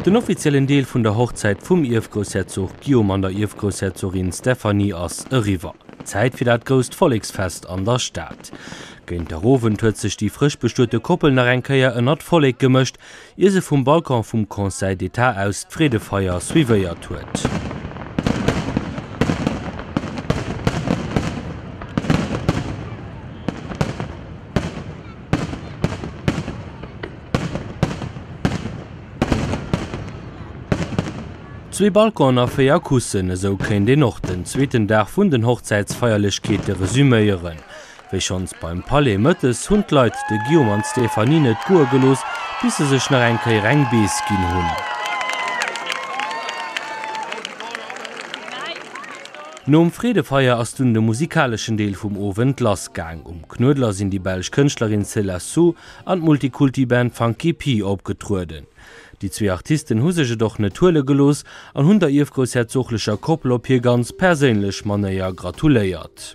Den offiziellen Deel vun der Hochzäit vum Ierfgroussherzog Guillaume an der Ierfgroussherzogin Stéphanie ass eriwwer. Zäit fir dat grousst Volleksfest an der Stad. Géint der Owend huet sech déi frësch bestuete Koppel nach eng Kéier ënnert d'Vollek gemëscht ier se vum Balcon vum Conseil d'État aus d'Freedefeier suivéiert huet. Zwee Balconen a véier Kussen, esou kéint een och den zweeten Dag vun den Hochzäitsfeierlechkeete resüméieren. Wéi schonns beim Palais mëttes hunn d'Leit de Guillaume an d'Stéphanie net goe gelooss, bis se sech nach eng Kéier eng Bees ginn hunn. Nom Freedefeier ass dunn de musikaleschen Deel vum Owend lass gaang. Um Knuedler sinn déi belsch Kënschtlerin C'est La Sous an d'Multikulti-Band Funky Pi opgetrueden. Déi zwee Artisten hu sech et och net huele gelooss an hunn der ierfgroussherzoglecher Koppel op hir ganz perséinlech Manéier gratuléiert.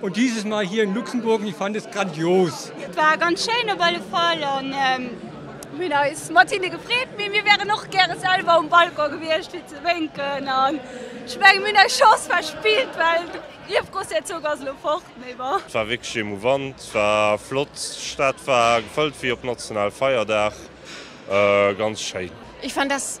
Und dieses Mal hier in Luxemburg und ich fand es grandios. Et war ganz schéin op alle Fall an mir hunn eis mat hinne gefreet, mee mir wären och gäre selwer um Balcon gewiescht fir ze wénken an ech menge mir hunn eis Chance verspillt, well de Liewgrossherzog ass elo fort, mee bon. Et war wierklech emouvant, et war flott, d'Stad war gefëllt wéi op Nationalfeierdag, ganz schéin. Ich fand das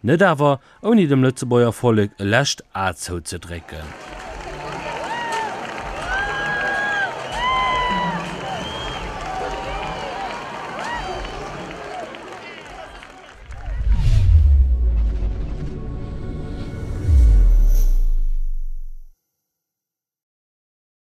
Net awer ouni dem Lëtzebuerger Vollek e lescht A zouzedrécken.